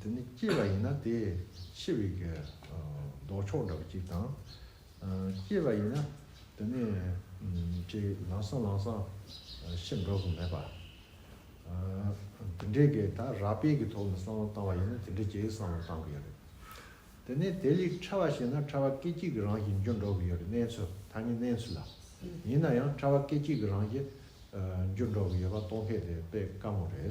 དེ་ནི་སྐྱེས་པ་ཡིན་ན་དེས་འཆི་བའི་ལྡོག་ཕྱོགས་འདྲ་བ་གཅིག་དང། སྐྱེས་པ་ཡིན་ན་དེ་ནི་ལང་སང་ལང་སང་ཤི་འགྲོ་དགོས་མེད་པ། དེ་འདྲའི་གེ་ད་རག་དཔལ་གྱི་ཐོག་ནས་བསམ་བློ་བཏང་བ་ཡིན་ན་དེ་འདྲའི་གེའི་བསམ་བློ་བཏང་གི་ཡོད་རེད། དེ་ནས་དེ་ལས་ཕྲ་བ་ཞིག་ན་ཕྲ་བ་སྐད་ཅིག་གི་རང་བཞིན་འགྱུར་འགྲོ་གི་ཡོད་རེད་གནས་ཚུལ་ཐ་སྙད་གནས་ཚུལ་ལ། ཡིན་ན་ཡང་ཕྲ་བ་སྐད་ཅིག་གི་རང་བཞིན་འགྱུར་འགྲོ་གི་ཡོད་པ་སྟོང་ཕད་དེ་དཔེ་དཀའ་མོ་རེད།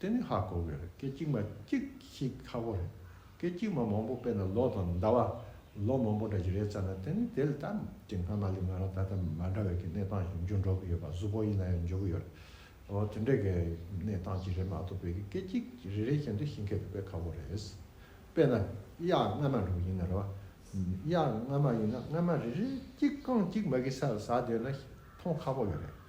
དེ་ནི་ཧ་གོ་གི་རེད་སྐད་ཅིག་མ་གཅིག་ཤིག་ཁ་བོ་རེད་སྐད་ཅིག་མ་མང་པོ་དཔེར་ན་ལོ་དང་ཟླ་བ་ལོ་མང་པོ་འདྲ་ཞིག་རེད་བསམ་ན་དེ་ནི་དེ་ལ་ད་ཀྱི་སྔ་མ་ལས་ང་རང་ད་ལྟ་མ་འདྲ་བའི་གི་གནས་སྟངས་ཤིག་འབྱུང་འགྲོ་གི་ཡོད་པ་གཟུ་བོ་ཡིན་ན་ཡང་འཇོག་གི་ཡོད་རེད་འོ་དེ་འདྲའི་གི་གནས་སྟངས་ཅིག་རེད་མ་གཏོགས་པའི་གི་སྐད་ཅིག་རེ་རེ་བཞིན་དུ་ཤིང་སྐད་དུ་དཔེ་ཁ་བོ་རེད་དཔེར་ན་དབྱར་སྔ་མ་འགྲོ་གི་ཡིན་ན་རེད་བ་དབྱར་སྔ་མ་ཡིན་ན་སྔ་མ་རེ་རེ་གཅིག་རྐང་གཅིག་མ་གི་ས་ལ་ཟགས་སྡོད་ན་མཐོང་ཁ་བོ་ཡོད་རེད།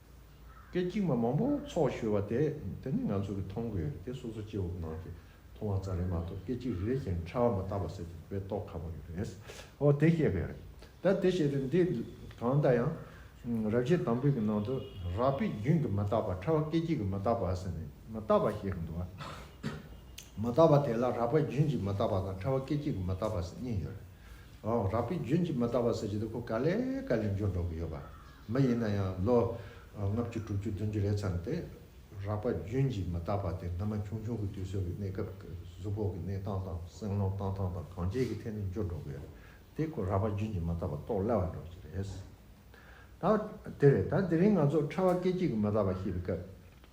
སྐད་ཅིག་མ་མང་པོ་ཚོགས་བཞོལ་བ་དེ་དེ་ནི་ང་ཚོ་གིས་མཐོང་དགོས་རེད་དེ་སོ་སོ་སྐྱེ་བོ་ནང་གི་མཐོང་བ་ཙ་རེ་མ་གཏོགས་སྐད་ཅིག་རེ་རེ་བཞིན་ཕྲ་བ་མ་བཏགས་པ་ཟེར་དེ་བས་རྟོགས་ཁག་པོ་རེད་ཨོ་དེ་ཤེས་དགོས་རེད་ད་དེ་བཤད་དུས་འདི་གང་ལྟར་ཡང་རབ་བྱེད་དང་པོའི་གི་ནང་དུ་རགས་པའི་རྒྱུན་གྱི་མ་བཏགས་པ་ཕྲ་བ་སྐད་ཅིག་གི་མ་བཏགས་པ་ཟེར་ནས་མ་བཏགས་པ་ཞེས་འདུག་ཨ། མ་བཏགས་པ་དེ་ལ་རགས་པའི་རྒྱུན་གྱི་མ་བཏགས་པ་དང་ཕྲ་བ་སྐད་ཅིག་གི་མ་བཏགས་པ་ཟེར་གཉིས་ཡོད་རེད་ཨོ་རགས་པའི་རྒྱུན་གྱི་མ་བཏགས་པ་ཟེར་གྱི་འདུག་གོ་ག་ལེ་ག་ལེ་འབྱོར་འགྲོ་གི་ཡོད་པ་མ་ཡིན་ན་ཡང་ལོ་ལྔ་བཅུ་དྲུག་ཅུ་བདུན་ཅུ་རེ་ཙམ་སྟེ་རགས་པ་རྒྱུན་གྱིས་མ་བརྟགས་པ་དེ་སྔ་མ་ཆུང་ཆུང་གི་དུས་སོགས་ཀྱི་གནས་སྐབས་གཟུགས་ཕོག་གི་གནས་སྟངས་དང་སེམས་ཀློང་གཏང་སྟངས་དང་གང་བྱས་ཀྱི་ཐད་ནས་འགྱུར་འགྲོ་གི་ཡོད་དེ་ཁོ་རགས་པ་རྒྱུན་གྱིས་མ་བརྟགས་པ་རྟོགས་སླ་བར་འགྲོ་གི་རེད། ད་དེ་རེད་ད་དེ་རིང་ང་ཚོ་ཕྲ་བ་སྐད་ཅིག་གིས་མ་བརྟགས་པ་ཤེས་པའི་སྐབས་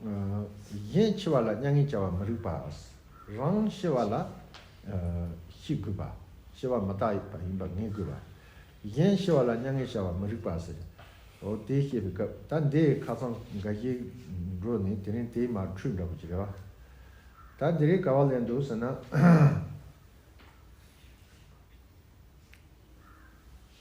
གཞན་འཆི་བ་ལ་མྱ་ངན་བྱ་བར་མི་རིགས་པ། རང་ཤི་བ་ལ་ཤི་དགོས་པ། ཤི་བ་མི་རྟག་པ་ཡིན་པར་ངེས་དགོས་པ། གཞན་ཤི་བ་ལ་མྱ་ངན་བྱ་བར་མི་རིགས་པ། ཟེར། འོ་དེ་བཤད་པའི་སྐབས་ད་འདི་ཁ་ཚང་དགའ་བཞི་འགྲོ་ནས་དེ་རིང་དེའི་མར་འཁྲུད་འདྲ་པོ་ཅིག་རེད་བ། ད་འདི་རིགས་ག་བ་ལས་འདུག་ཟེར་ན།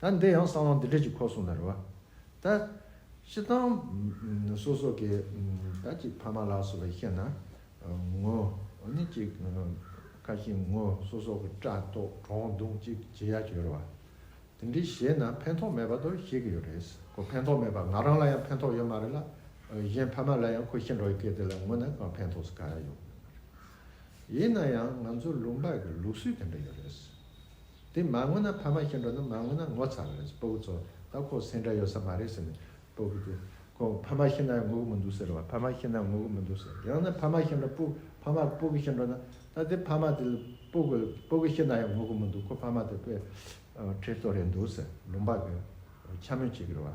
ད་འདི་ཡང་གསང་བ་འདི་འདྲས་ཀྱི་ཁོག་སོང་ན་རེ་བ། ད། ཤི་ཐང། སོ་སོ་གི། ད་ཅིག་ཕ་མ་ལགས་སོ་བས་བཤད་ན། ངོ། ནི་ཅིག། ཁ་ཞེ་ངོ་སོ་སོག་གི་སྐྲ་ཏོག་གྲོག་མདུང་ཅིག་བྱེད་ཡ་ཅིག་ཡོད་རེ་བ། དེ་འདྲས་བྱེད་ན་ཕན་ཐོག་མེད་པ་དོ་བཤད་གི་ཡོད་རེད། ཁོ་ཕན་ཐོག་མེད་པ་ང་རང་ལ་ཡང་ཕན་ཐོག་ཡོད་མ་རེད་ལ། གཞན་ཕ་མ་ལ་ཡང་ཁོ་བཤད་འགྲོ་བའི་སྐད་དེ་ལ་ངོ་ན་གང་ཕན་ཐོགས་སུ་ག་ཡ་ཡོད་མེད་མ་རེད། ཡིན་ན་ཡང་ང་ཚོ་ལུང་པ་གི་ལུགས་སྲོལ་དེ་འདྲ་ཡོད་རེད། དེ་མ་ངུ་ན་ཕ་མ་ཤི་འགྲོ་ན་མ་ངུ་ན་ངོ་ཚ་བ་རེད་སྤོ་བོ་ཚོ་ད་ཁོག་སེང་འདྲ་ཡོད་ས་མ་རེད་ཟེར་ནས་སྤོ་བོ་དེ་ཁོ་ཕ་མ་ཤི་ན་ཡང་ངུ་གི་མི་འདུག་ཟེར་བ་ཕ་མ་ཤི་ན་ཡང་ངུ་གི་མི་འདུག་ཟེར་ཡང་ན་ཕ་མ་ཤི་འགྲོ་སྤོ་ཕ་མ་སྤོ་གི་ཤི་འགྲོ་ན་ད་དེ་ཕ་མ་དེ་ལ་སྤོ་གི་སྤོ་གི་ཤི་ན་ཡང་ངུ་གི་མི་འདུག་ཁོ་ཕ་མ་དེ་དཔེ་ཁྲེལ་ཏོ་རེད་འདུག་ཟེར་ལུང་པ་གི་འཁྱམ་མོས་བྱེད་གི་རེད་བ།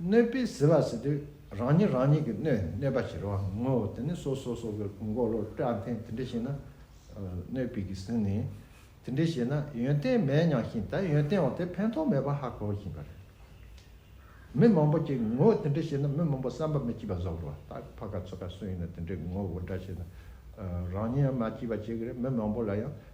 གནོད་པས་གཟིར་བ་གཟིར་དུས་རང་ཉིད་རང་ཉིད་ཀྱི་གནོད་ཡང་གནོད་པ་ཞེས་རོ་ངོ། དེ་ནི་སོ་སོ་སོ་སོའི་འགོག་བློ་སྤྲོད་ཨང་ཐེངས་དེ་འདྲ་ཞིག་ན། གནོད་པས་ཀྱིས་ཟིན་ནས། དེ་འདྲ་ཞིག་ན་ཡོན་ཏན་མེད་སྙམ་བཞིན་ད་ཡོན་ཏན་འོག་དེ་ཕན་ཐོགས་མེད་པར་ཧ་གོ་བཞིན་པ་རེད། མི་མང་པོ་ཀྱིས་ངོ་བོ་དེ་འདྲ་ཞིག་ན་མི་མང་པོ་བསམ་པ་མི་སྐྱིད་པ་བཟོ་གི་རེད་ད་ཕ་ག་ཚོ་ག་སུ་ཡིན་ན་དེ་འདྲའི་ངོ་བོ་འདྲ་ཞིག་ན་རང་ཉིད་ཡང་མ་སྐྱིད་པ་བྱེད་ཀྱི་རེད་མི་མང་པོ་ལ་ཡང་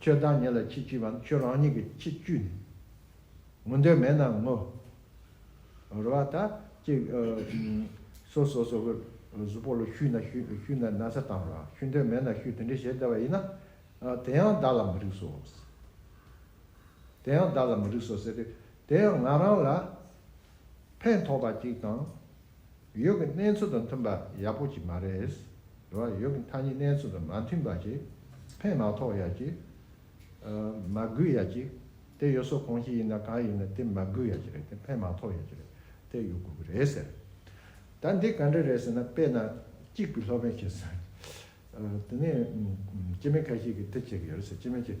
ཁྱོད་བདག་ཉིད་ལ་ཅི་བགྱིས་པའམ་ཁྱོད་རང་ཉིད་ཀྱིས་ཅི་བཅུས་ནས་ངུ་འདོད་མེད་ན་ངུ། རོལ་བ་དག་ཅིག། སོ་སོ་སོ་སོའི་གཟུགས་པོ་ལ་བཤུས་ན་བཤུས་ན་ན་ཚ་དང་རང་བཤུས་འདོད་མེད་ན་བཤུས་དེ་འདྲའི་ཞེ་བདེ་བ་ཡིན་ན། དེ་ཡང་བདག་ལ་མི་རིགས་སོ། དེ་ཡང་བདག་ལ་མི་རིགས་སོ་ཟེར་ཏེ། དེ་ཡང་ང་རང་ལ་ཕན་ཐོགས་པ་ཅིག་དང་ཡོད་ཀྱི་གནས་ཚུལ་དང་མཐུན་པ་ཡག་པོ་ཅིག་མ་རེད། རེད་བ། ཡོད་ཀྱི་མཐའ་གཉིས་གནས་ཚུལ་དང་མ་མཐུན་པ་ཅིག་ཕན་མ་ཐོགས་ཡག་ཅིག། མ་དགོས་ཡག་ཅིག། དེ་ཡོད་སོགས་གང་ཞིག་ཡིན་ན་གང་ཡིན་ན་དེ་མ་དགོས་ཡག་ཅིག་རེད་དེ་ཕན་མ་ཐོགས་ཡག་ཅིག་རེད་དེ་ཡོད་དགོས་ཀྱི་རེད་ཟེར། ད་འདི་ག་འདྲ་རེད་ཟེར་ན་དཔེ་ན་གཅིག་པུས་ལྷོད་པན་བྱེད་ཟེར། དེ་ནས་སྤྱི་མི་ཁ་ཤས་ཀྱིས་དེ་བྱེད་ཀྱི་ཡོད་རེད་ཟེར་སྤྱི་མི་བྱེད།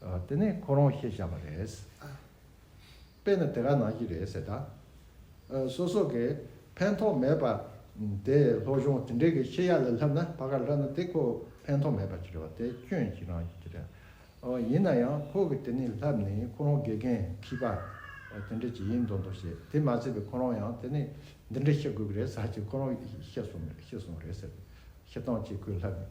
དེ་ནས་ཁོ་རང་ཤེས་བཞག་པ་རེད། དཔེ་ན་དེ་ག་ནང་གི་རེད་ཟེར་ད། སོ་སོ་གས་ཕན་ཐོག་མེད་པ་དེ་སློབ་སྦྱོང་དེ་འདྲས་གས་ཤེས་ཡག་ལས་ལྷབ་ན་བ་ག་ལྷབ་ན་དེ་ཁོ་ཕན་ཐོག་མེད་པ་གི་རེད་བ་དེ་སྐྱོན་གྱི་རང་གི་གི་རེད། ཡིན་ན་ཡང་ཁོ་གི་དེ་ནས་ལྷབ་ནས་ཁོ་རང་དགེ་རྒན་ཁིས་པ་དེ་འདྲས་གི་ཡིན་མདོག་མདོག་བྱས་དེ་མ་ཚད་པའི་ཁོ་རང་ཡང་དེ་ནས་འདི་འདྲས་ཤེས་དགོས་གི་རེད་ཟ་ཅིག་ཁོ་རང་ཤེས་སོང་རེད་ཟེར་ཤེས་སྟངས་གཅིག་ཁོས་ལྷབ་ནས།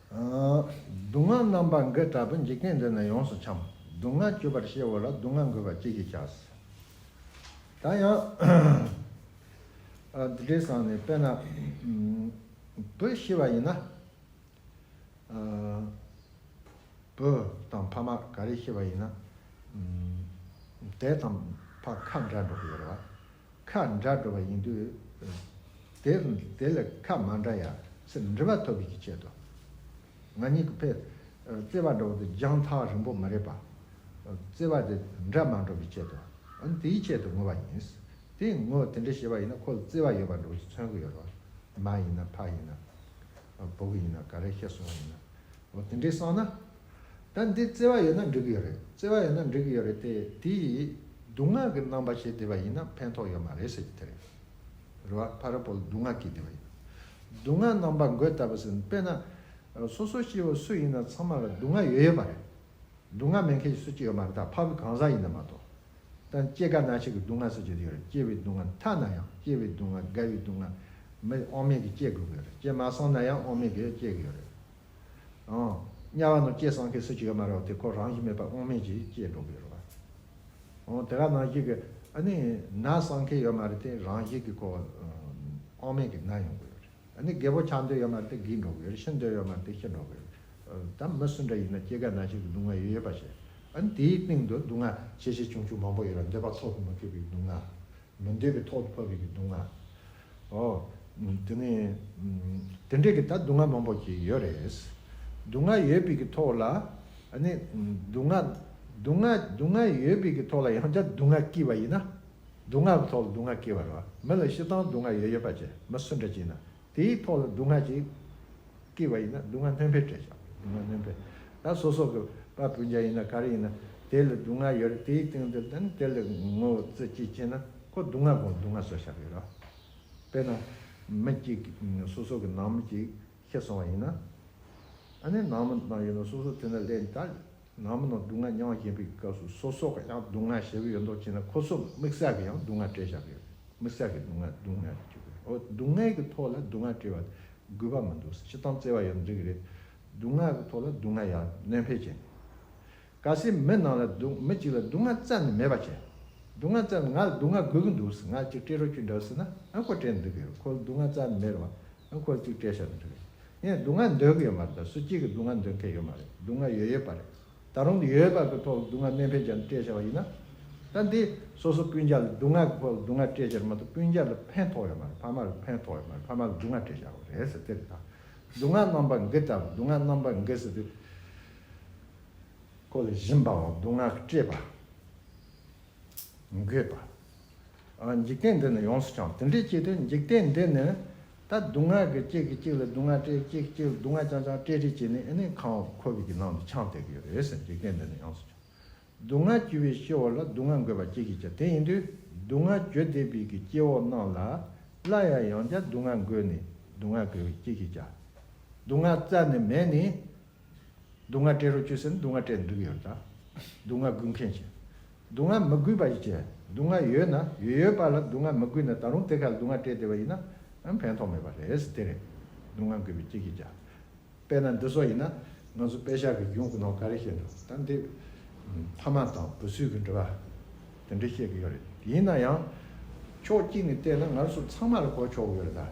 སྡུག་བསྔལ་རྣམ་པ་འགའི་དྲག་པོའི་འཇིག་རྟེན་འདི་ན་ཡོངས་སུ་འཁྱམས། སྡུག་བསྔལ་གྱུར་པར་ཤེས་བོ་ལ་སྡུག་བསྔལ་འགོས་པ་ཅི་ཞིག་བྱ། ད་ཡང། འདི་འདྲའི་བསམ་ནས་དཔེར་ན། བུ་ཤི་བ་ཡིན་ན། བུ་དང་ཕ་མ་ག་རེ་ཤི་བ་ཡིན་ན། དེ་དང་ཕ་ཁ་འདྲ་འགྲོ་གི་ཡོད་རེད་བ། ཁ་འདྲ་འགྲོ་བ་ཡིན་དུས། དེ་ལས་ཁ་མ་འདྲ་ཡ་ཟེར་འདྲི་བ་ཐོབ་པའི་ཀྱི་ཆེད་དུ། ང་གཉིས་ཀྱི་ཕས་བརྩེ་བ་འདྲ་བོ་དེ་རྒྱང་ཐག་རིང་པོ་མ་རེད་པ། བརྩེ་བ་དེ་འདྲ་མ་འགྲོ་བའི་ཆེད་དུ། འོན་དེའི་ཆེད་དུ་ངུ་བ་ཡིན། དེ་ངུ་དེ་འདྲ་བྱེད་པ་ཡིན་ན་ཁོ་ལ་བརྩེ་བ་ཡོད་པ་འདྲ་བོ་ཞིག་མཚོན་གྱི་ཡོད་རེད། མ་ཡིན་ན་ཕ་ཡིན་ན། བུ་ག་ཡིན་ན་ག་རེ་ཤི་སོང་བ་ཡིན་ན། འོ་དེ་འདྲས་སོང་ན། ད་འདི་བརྩེ་བ་ཡོད་ན་འགྲིག་གི་ཡོད་རེད་བརྩེ་བ་ཡོད་ན་འགྲིག་གི་ཡོད་རེད་དེ་དེ་ཡིས་སྡུག་བསྔགས་ཀྱི་རྣམ་པ་བྱེད་བསྡད་པ་ཡིན་ན་ཕན་ཐོགས་ཡོད་མ་རེད་ཟེར་གྱི་དེ་རེད། རེ་བ་ཕ་རོལ་པོ་ལ་སྡུག་བསྔགས་ཀྱིས་བསྡད་པ་ཡིན། སྡུག་བསྔགས་རྣམ་པ་འགོད་ལྟ་བུ་ཟིན་དཔེར་ན། སོ་སོ་སྐྱེ་བོ་སུ་ཡིན་ན་ཚང་མ་ལ་སྡུག་བསྔགས་ཡོད་ཡོད་མ་རེད། སྡུག་བསྔགས་མེད་མཁན་ཞིག་སུ་ཅིག་ཡོད་མ་རེད་ད་ཕ་བུ་གང་ཟག་ཡིན་ན་མ་གཏོགས། ད་སྐྱེ་རྒ་ན་འཆི་གི་སྡུག་བསྔགས་སུ་བྱེད་དུ་ཡོད་རེད་སྐྱེ་བའི་སྡུག་བསྔགས་མཐའ་ན་ཡང་སྐྱེ་བའི་སྡུག་བསྔགས་རྒ་བའི་སྡུག་བསྔགས་མི་དབང་མེད་ཀྱིས་སྐྱེ་དགོས་ཀྱི་ཡོད་རེད་སྐྱེ་མ་སོང་ན་ཡང་དབང་མེད་ཀྱིས་སྐྱེ་གི་ཡོད་རེད། དམྱལ་བ་རྣམས་སྐྱེས་སངས་རྒྱས་སུ་ཅི་ག་མ་རེད་བ་དེ་ཁོ་རང་བཞིན་མེད་པ་དབང་མེད་ཀྱིས་སྐྱེས་འགྲོ་གི་རེད་བ། འོང་དེ་ག་ནང་བཞིན་གི་ཨ་ནི་ན་སངས་རྒྱས་ཡོད་མ་རེད་དེ་རང་བཞིན་གྱི་ཁོ་དབང་མེད་ཀྱི་ན་ཡོང་གི་རེད། ཨ་ནི་རྒས་པོ་ཆགས་འདོད་ཡོད་མ་རེད་དེ་རྒས་འགྲོ་གི་རེད་ཤི་འདོད་ཡོད་མ་རེད་དེ་ཤི་འགྲོ་གི་རེད། ད་མི་སུ་འདྲ་ཡིན་ན་སྐྱེ་རྒ་ན་འཆི་གི་སྡུག་བསྔལ་ཡོད་ཡོད་པ་ཤེས། ཨ་ནི་དེའི་སྟེང་དུ་སྡུག་བསྔལ་ཆེ་ཆེ་ཆུང་ཆུང་མང་པོ་ཡོད་ལ་འདོད་པ་ཐོག་ཏུ་མི་འཁྱོལ་བའི་སྡུག་བསྔལ། མི་འདོད་པའི་ཐོག་ཏུ་ཕབ་པའི་སྡུག་བསྔལ། ཨོ། དེ་ནི། དེ་འདྲས་ཀྱི་ད་སྡུག་བསྔལ་མང་པོ་ཞིག་ཡོད་རེད། སྡུག་བསྔལ་ཡོད་པའི་ཀྱི་ཐོག་ལ། ཨ་ནི། སྡུག་བསྔལ། སྡུག་བསྔལ། སྡུག་བསྔལ་ཡོད་པའི་ཀྱི་ཐོག་ལ་ཡང་བསྐྱར་སྡུག་བསྔལ་སྐྱེས་པ་ཡིན་ན། སྡུག་བསྔལ་གྱི་ཐོག་ལ་སྡུག་བསྔལ་སྐྱེས་པ་རེད་བ། མི་ལ་ཤི་སྟངས་སྡུག་བསྔལ་ཡོད་ཡོད་པ་ཅེས་མི་སུ་འདྲ་བྱས་ན་དེའི་ཐོག་ལ་སྡུག་བསྔལ་ཅིག། སྐྱིད་པ་ཡིན་ན་སྡུག་བསྔལ་སྣོན་འཕེལ་སྤྲད་བྱ། སྡུག་བསྔལ་སྣོན་འཕེལ། ད་སོ་སོ་གི་པ་སྤུན་ཅག་ཡིན་ན་ག་རེ་ཡིན་ན་དེ་ལ་སྡུག་བསྔལ་ཡོད་རེད་དེའི་སྟེང་དུ་ད་ནི་དེ་ལ་ངོ་བོ་རྩེ་གཅིག་བྱས་ན་ཁོ་སྡུག་བསྔལ་དགོངས་སྡུག་བསྔལ་བཟོ་བྱ་གི་རོགས། དཔེར་ན། མི་གཅིག་གི་སོ་སོ་གི་ནང་མི་གཅིག་ཤི་སོང་བ་ཡིན་ན། ཨ་ནི་ནང་མི་ནང་ཡོད་ན་སོ་སོ་དེ་ན་ལས་འདའ། ནང་མི་རྣམས་སྡུག་བསྔལ་མྱང་བཞིན་པའི་སྐབས་སུ་སོ་སོ་ག་ཡང་སྡུག་བསྔལ་ཞེ་པོ་ཡོད་མདོག་བྱས་ན་ཁོ་སོ་དམིགས་བསལ་གི་ཡང་སྡུག་བསྔལ་བྲལ་བྱ་དགོས་པས་དམིགས་བསལ་གི་སྡུག་བསྔལ་སྡུག་བསྔལ་དུ་གྱུར་པས་འོ་སྡུག་བསྔལ་གི་ཐོག་ལ་སྡུག་བསྔལ་བྲལ་བ་དགོས་པ་མི་འདུག་སྤྱི་གཏམ་བརྩེ་བ་ཡོད་འགྲིག་གི་རེད། སྡུག་བསྔལ་གི་ཐོག་ལ་སྡུག་བསྔལ་ཡང་གནོད་འཕེལ་བྱེད་ངེས། ག་སྲིད་མི་རྣམས་ལ་སྡུག་མི་གཅིག་ལ་སྡུག་བསྔལ་བཙལ་ནས་མེད་པ་བྱས། སྡུག་བསྔལ་བཙལ་ནས་ང་ལ་སྡུག་བསྔལ་དགོས་གི་འདུག་ཟེར་ང་གཅིག་སྤྲེལ་རོ་ཁྱོད་འདྲ་བ་ཟེར་ན་ཨ་ཁོ་སྤྲེལ་འདུག་གི་རེད་ཁོ་ལ་སྡུག་བསྔལ་བཙལ་མེད་རེད་བ། ཁོ་བཅུ་སྤྲད་བཞག་ནི་རེད། ངས་སྡུག་བསྔལ་འདོད་ཀྱི་ཡོད་མ་རེད་ད་སུ་གཅིག་གིས་སྡུག་བསྔལ་འདོད་མཁན་ཡོད་མ་རེད་སྡུག་བསྔལ་ཡོད་ཡོད་པ་རེད། ད་རུང་ཡོད་ཡོད་པ་གི་ཐོག་ལ་སྡུག་བསྔལ་གནད་འཕེལ་བྱས་ནས་སྤྲད་བཞག་པ་ཡིན་ན། ད་འདི་སོ་སོ་སྤུན་བརྒྱ་ལ་སྡུག་བསྔལ་གི་ཐོག་ལ་སྡུག་བསྔལ་སྤྲད་བཞག་མ་གཏོགས་སྤུན་བརྒྱ་ལ་ཕན་ཐོགས་ཡོད་མ་རེད་ཕ་མ་ལ་ཕན་ཐོགས་ཡོད་མ་རེད་ཕ་མ་ལ་སྡུག་བསྔལ་སྤྲད་བཞག་པ་རེད་ཟེར་དེ་རེད་ད། སྡུག་བསྔལ་རྣམ་པ་འགི་ལྟ་བུ་སྡུག་བསྔལ་རྣམ་པ་འགི་ཟེར་དུས། ཁོ་ལ་བཞིན་པའོ་སྡུག་བསྔལ་སྤྲད་པ། མི་དགོས་པ། འཇིག་རྟེན་འདི་ནི་ཡོངས་སུ་བྱང། དེ་འདྲའི་ཆེད་དུ་འཇིག་རྟེན་འདི་ནི། ད་སྡུག་བསྔལ་གྱི་གཅིག་གིས་གཅིག་ལ་སྡུག་བསྔལ་སྤྲད་གཅིག་གཅིག་ལ་སྡུག་བསྔལ་བྱང་བྱང་སྤྲད་སྤྲད་བྱས་ནས་ཨེ་ནས་ཁང་བ་ཁོ་བོས་ཀྱི་ནང་དུ་ཆང་བཏེག་གི་ཡོད་རེད་ཟེར་འཇིག་རྟེན་འདི་ནི་ཡོངས་སུ་བྱང། སྡུག་བསྔལ་བཅུ་བའི་སྤྱི་བོ་ལ་སྡུག་བསྔལ་འགོས་པ་གཅིག་གིས་བྱ་དེ་ཡིན་དུས་སྡུག་བསྔལ་བཅུ་བསྡེབས་པའི་གི་སྐྱེ་བོ་རྣམས་ལ་སླར་ཡང་ཡང་བསྐྱར་སྡུག་བསྔལ་འགོས་ནས་སྡུག་བསྔལ་འགོས་པའི་གཅིག་གིས་བྱ། སྡུག་བསྔལ་རྩ་ནས་མེད་ནས་སྡུག་བསྔལ་སྤྲད་རོགས་གྱིས་ཟེར་ནས་སྡུག་བསྔལ་སྤྲད་འདུག་གི་ཡོད། སྡུག་བསྔལ་སྒུལ་མཁན་གྱིས་སྡུག་བསྔལ་མི་སྒུལ་པ་ཞིག་བྱས། སྡུག་བསྔལ་ཡོད་ན་ཡོད་ཡོད་པ་ལ་སྡུག་བསྔལ་མི་སྒུལ་ན་ད་རུང་དེ་ཁ་ལ་སྡུག་བསྔལ་སྤྲད་བསྡད་པ་ཡིན་ན་ཕན་ཐོགས་མེད་པ་རེད། དེ་རེད་སྡུག་བསྔལ་སྒུལ་བའི་སྐྱིད་ཀྱི་རྒྱ། དཔེར་ན་འདི་སོགས་ཡིན་ན་ང་ཚོ་དཔེ་ཆ་གི་རྒྱུན་གོ་ནོར་ག་རེ་བཤད་འདུག་ད་འདི། ཕ་མ་དང་བུ་སུས་ཀྱི་འབྲེལ་བ། དེ་འདྲ་བཤད་ཀྱི་ཡོད་རེད། ཡིན་ན་ཡང། ཕྱོགས་གཅིག་ནས་བལྟས་ན་ང་ཚོ་ཚང་མ་ལ་གོ་ཆོག་གི་ཡོད་རེད་ད།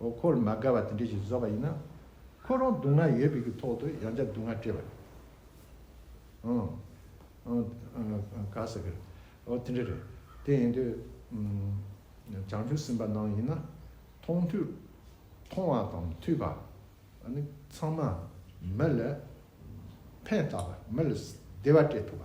འོ་འཁོར་མ་དགའ་བ་དེ་འདྲས་ཞིག་བཟོ་བ་ཡིན་ན། ཁོ་རང་སྡུག་བསྔལ་ཡོད་པའི་གི་ཐོག་ཏུ་ཡང་བསྐྱར་སྡུག་བསྔལ་སྤྲད་པ་རེད། ག་ཟེར་གི། འོ་དེ་འདྲས་རེད། དེ་ཡིན་དུས། བྱང་ཆུབ་སེམས་དཔའ་ནང་ཡིན་ན། མཐོང་ཐོས། མཐོང་བ་དང་ཐོས་པ། ནི་ཚང་མ། མི་ལ། ཕན་བཏགས་པ་མི་ལ་བདེ་བ་སྤྲད་ཐུབ་པ།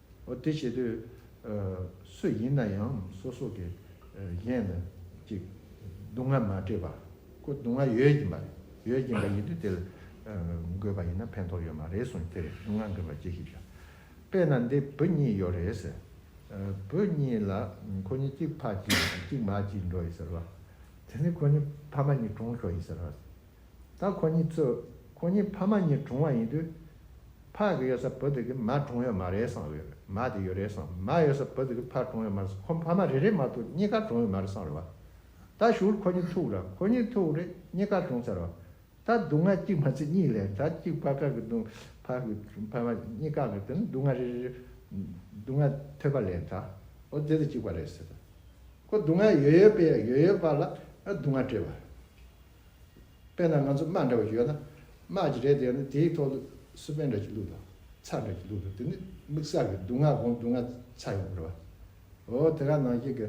དེ་བྱེད་དུས་སུ་ཡིན་ན་ཡང་སོ་སོ་གི་གཞན་ལ་ཅིག་སྡུག་བསྔལ་མ་སྤྲད་པ་ཀུན་སྡུག་བསྔལ་ཡོད་ཀྱིན་པ་ཡོད་ཀྱིན་པ་ཡིན་དུས་དེ་ལ་འགོད་པ་ཡིན་ན་ཕན་ཐོགས་ཡོད་མ་རེད་གསུངས་དེར་སྡུག་བསྔལ་འགོད་པ་ཅི་ཞིག་བྱ་དཔེ་ན་འདི་བུ་གཉིས་ཡོད་རེད་ཟེར་བུ་གཉིས་ལ་ཁོ་གཉིས་གཅིག་ཕ་གཅིག་གཅིག་མ་གཅིག་འགྲོ་ཡི་ཟེར་བ་དེ་ནས་ཁོ་གཉིས་ཕ་མ་གཉིས་གྲོངས་ཤོག་ཡིན་ཟེར་བ་ད་ཁོ་གཉིས་ཚོས་ཁོ་གཉིས་ཕ་མ་གཉིས་གྲོངས་བ་ཡིན་དུས། ཕ་གི་ཡོད་ས་བུ་དེ་གི་མ་གྲོངས་ཡོད་མ་རེད་བསམ་རེད་མ་དེ་ཡོད་རེད་བསམ་མ་ཡོད་ས་བུ་དེ་གི་ཕ་གྲོངས་ཡོད་མ་རེད་ཁོ་ཕ་མ་རེ་རེ་མ་གཏོགས་གཉིས་ཀ་གྲོངས་ཡོད་མ་རེད་བསམ་རེད་བ། ད་ཞུ་བོར་ཁོ་གཉིས་ཐུག་ར་ཁོ་གཉིས་ཐུག་རེད་གཉིས་ཀ་གྲོངས་ཚར་བ། ད་སྡུག་བསྔལ་གཅིག་མ་ཚེ་གཉིས་ལས་ད་གཅིག་ཕ་ཁ་གི་སྡུག་ཕ་གི་ཕ་མ་གཉིས་ཀ་གི་དེ་ནི་སྡུག་བསྔལ་རེ་རེ་སྡུག་བསྔལ་ཐོས་པ་ལས་ད་ཨོ་དེ་དེ་གཅིག་པ་རེད་ཟེར་ད་ཁོ་སྡུག་བསྔལ་ཡོད་ཡོད་པས་ཡོད་ཡོད་པ་ལ་སྡུག་བསྔལ་སྤྲད་པ། དཔེར་ན་ང་ཚོ་དམག་འདྲ་བ་ཞིག་ཡོད་ན། དམག་གི་རེད་དེ་ཡོད་ན་དེའི་ཐོག་ལ་སུ་པན་འདྲ་ཞིག་བླུགས་དང་ཚགས་འདྲ་ཞིག་བླུགས་དང་དེ་ནི་དམིགས་བསལ་གྱི་སྡུག་བསྔལ་གོང་སྡུག་བསྔལ་ཚ་ཡོང་གི་རེད་བ། འོ་དེ་ག་ནང་བཞིན་གྱི་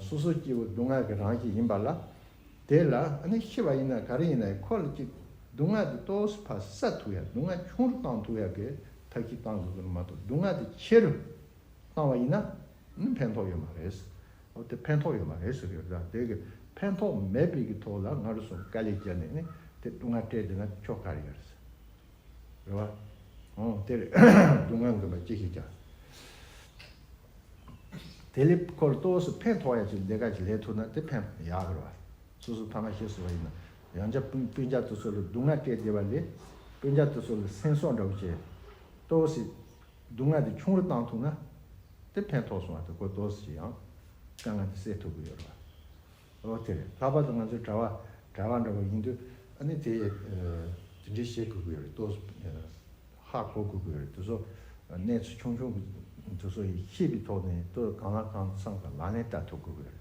སོ་སོའི་སྐྱེ་བོ་སྡུག་བསྔལ་གྱི་རང་བཞིན་ཡིན་པ་ལ། དེ་ལ་ནི་ཤི་བ་ཡིན་ན་ག་རེ་ཡིན་ན་ཡང་ཁོ་ལ་ཅིག་སྡུག་བསྔལ་དེ་གཏོར་སུ་ཕ་ས་ཐུག་ཡ་སྡུག་བསྔལ་ཆུང་རུ་བཏང་ཐུག་ཡ་གི་ཐབས་ཤིག་བཏང་དགོས་གི་ནི་མ་གཏོགས་སྡུག་བསྔལ་དེ་ཆེ་རུ་གནང་བ་ཡིན་ན། ཕན་ཐོགས་ཡོད་མ་རེད། དེ་ཕན་ཐོགས་ཡོད་མ་རེད་ཟེར་གི་ཡོད་ད། དེ་ཕན་ཐོགས་མེད་དཔེ་ཀྱི་ཐོག་ལ་ང་རུ་སོང་དཀའ་ལས་བྱས་ནས་ནི་དེ་སྡུག་བསྔལ་སྤྲད་དེ་ན་ཆོ་ག་རེད་ཟེར། རེད་བ། ཨོ་དེ་རེད། སྡུག་བསྔལ་འགོས་པ་ཅི་ཞིག་བྱ། དེ་ལས་ཁོ་ལ་ཏོག་སུ་ཕན་ཐོགས་ཡ་ཅིག་ལས་ཀ་ཅིག་ལས་ཐུབ་ན་དེ་ཕན་ཐོགས་ཡག་རེད་བ། སོ་སོ་ཕ་མ་ཤི་སོང་བ་ཡིན་ན་ཡང་བྱ་སྤུན་སྤུན་ཆ་དེ་ཚོ་ལ་སྡུག་བསྔལ་སྤྲད་བསྡད་པ་ལས་སྤུན་ཆ་དེ་ཚོ་ལ་སེམས་སོགས་འདྲ་བོ་བྱས། ཏོག་སི། སྡུག་བསྔལ་དེ་ཆུང་རུ་བཏང་ཐུབ་ན། དེ་ཕན་ཐོགས་སོང་བ་དེ་གོ་ཐོས་སུ་ཡང་དཀའ་ངལ་དེ་སེལ་ཐུབ་ཀྱི་ཡོད་རེད། འོ་དེ་རེད་ལྷག་པར་དུ་ང་ཚོའི་གྲྭ་བ་གྲྭ་བ་འདྲ་བོ་ཡིན་དུས་ཨ་ནི་དེ་དེ་འདྲའི་བྱེད་དགོས་ཀྱི་ཡོད་རེད་ལྟོས་སོ། ཧ་གོ་དགོས་ཀྱི་ཡོད་རེད་དུས་སོ། གནས་ཚུལ་ཆུང་ཆུང་གི་དུས་སོ་ཡིས་ཤེས་པའི་ཐོག་ནས་ལྟོས་གང་ལ་གང་འཚམས་ཀྱི་ལག་ལེན་བསྟར་ཐུབ་དགོས་ཀྱི་ཡོད་རེད།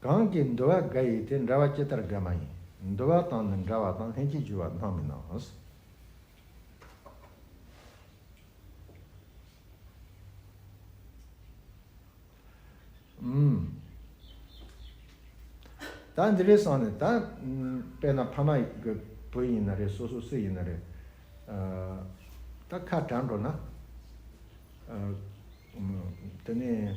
གང་གི་འདུལ་བ་འགའ་ཡིས་དེ་འདྲ་བ་ཅི་ལྟར་དགའ་མ་ཡིན་འདུལ་བ་དང་ནི་འདྲ་བ་དང་ལྷན་ཅིག་འཇུ་བ་སྣང་མི་སྣང། ད་འདི་རེད་བསམ་ནས་ད་དཔེ་ན་ཕ་མ་གི་བུ་ཡིན་ན་རེད་སོ་སོ་སུ་ཡིན་ན་རེད་ད་ཁ་གྲགས་འགྲོ་ན། དེ་ནས།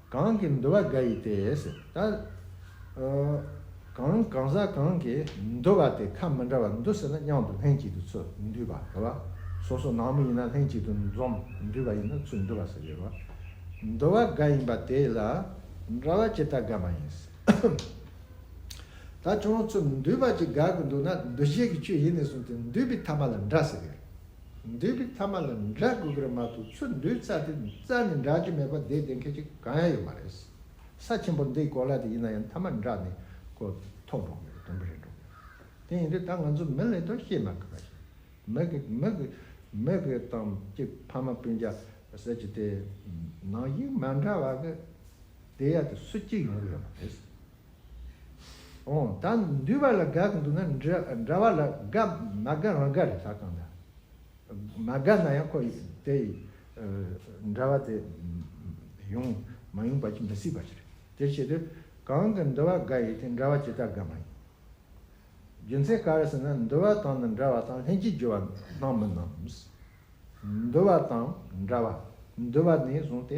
གང་གིས་འདུལ་བ་འགའ་ཡིས་ཏེ། ད་གང་གང་ཟག་གང་གིས་འདུལ་བ་དེ་ཁ་མི་འདྲ་བར་འདུལ་ཟེར་ན་སྙམ་དུ་ལྷན་ཅིག་ཏུ་ཚུར་འདུས་པ་དེ་བ། སོ་སོ་ནང་མི་ཡིན་ན་ལྷན་ཅིག་ཏུ་འཛོམ་འདུས་པ་ཡིན་ན་ཚུར་འདུས་པ་ཟེར་བས་བ། འདུལ་བ་འགའ་ཡིན་པ་དེ་ལ་འདྲ་བ་ཅི་ལྟར་དགག་མ་ཡིན། ད་ཅུང་ཚུར་འདུས་པ་ཅིག་དགག་གི་འདུག་ན་འདུ་བྱེད་ཀྱི་ཆོས་ཡིན་ནས་གསུངས་ཏེ་འདུས་པའི་ཐ་མ་ལ་འདྲ་ཟེར་བས། འདོད་པའི་ཐ་མ་ལ་འདྲ་དགོས་གི་རེད་མ་གཏོགས་ཆུ་འདོད་རྩ་དེ་རྩ་ནས་འདྲ་གི་མེད་པ་དེ་བདེན་མཁན་གཅིག་གང་ཡང་ཡོད་མ་རེད། ས་ཆེན་པོར་འདི་གོ་ལ་དེ་ཡིན་ན་ཡང་ཐ་མ་འདྲ་ནས་གོ་ཐོག་འགྲོ་གི་ཡོད་དོན་པོ་རེད་འགྲོ་གི་ཡོད། དེ་ཡིན་དུས་ད་ང་ཚོ་མི་ལས་དོན་ཤེས་མ་དགོས་པ་ཞིག་མི་གི་མི་གི་མི་གི་དང་གཅིག་ཕ་མ་སྤུན་རྒྱ་ཟེར་གྱི་དེ་ནང་དབྱིངས་མ་འདྲ་བ་གི་དེ་ཡ་དེ་སུ་གཅིག་ཡོང་གི་ཡོད་མ་རེད། ད་འདུས་པ་ལ་དགག་འདུག་ན་འདྲ་བ་ལ་དགག་མ་དགག་རང་དགག་རེད་ཟ་གང་དག་མ་དགག་ན་ཡང་ཁོ་དེ་འདྲ་བ་དེ་ཡོང་མ་ཡོང་བ་ཅི་མི་སྲིད་པ་ཞིག་རེད་དེར་ཆེད་དུ་གང་གི་འདུ་བ་དགག་ཡོད་དེ་འདྲ་བ་ཇི་ལྟར་དགག་མ་ཡིན། རྒྱུ་མཚན་ག་རེ་ཟེར་ན་འདུ་བ་དང་མི་འདྲ་བ་དང་ལྷན་ཅིག་རྒྱུ་བ་སྣང་མི་སྣང། འདུ་བ་དང་འདྲ་བ་འདུ་བ་ནས་བཟུང་སྟེ་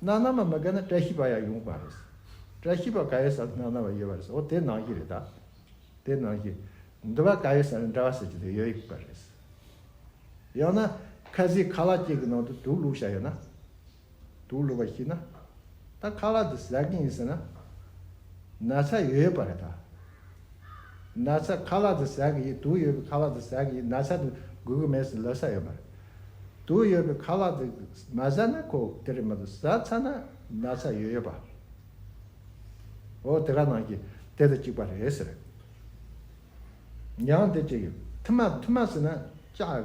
ནགས་ནང་མ་མི་དགའ་ན་བཀྲ་ཤིས་པ་ཡང་ཡོང་པ་རེད། བཀྲ་ཤིས་པ་ག་ཡོད་ས་ནགས་ནང་བ་ཡོད་པ་རེད་འོ་དེ་ནགས་བཞི་རེད་ད། དེ་ནགས་བཞི། འདི་བ་ག་ཡོད་ས་ནི་འདྲ་བ་ཟེར་གྱི་དེ་ཡོད་པ་རེད། ཡང་ན་ཁ་བཟས་ཁ་ལག་གཅིག་གི་ནང་དུ་དུག་བླུགས་བཞག་ཡོད་ན། དུག་བླུགས་པ་ཤི་ན། ད་ཁ་ལག་འདི་ཟ་གི་ཡིན་ཟེར་ན། ན་ཚ་ཡོད་པ་རེད་ད། ན་ཚ་ཁ་ལག་དུ་ཟ་གི་ཡིན་དུག་ཡོད་པའི་ཁ་ལག་དུ་ཟ་གི་ཡིན་ན་ཚ་དུ་འགུལ་གི་མེད་ཟེར་ལབ་ས་ཡོད་མ་རེད། དུག་ཡོད་པའི་ཁ་ལག་དུ་མ་ཟ་ན་ཁོ་དེ་རིང་མ་དུ་ཟ་ཚ་ན་ན་ཚ་ཡོད་ཡོད་པ། འོ་དེ་ག་ནང་གི་དེ་དང་གཅིག་པ་རེད་ཟེར། མྱང་འདི་ཅི་ཡོད་ཐུ་མ་ཐུ་མ་ཟེར་ན་ཅག།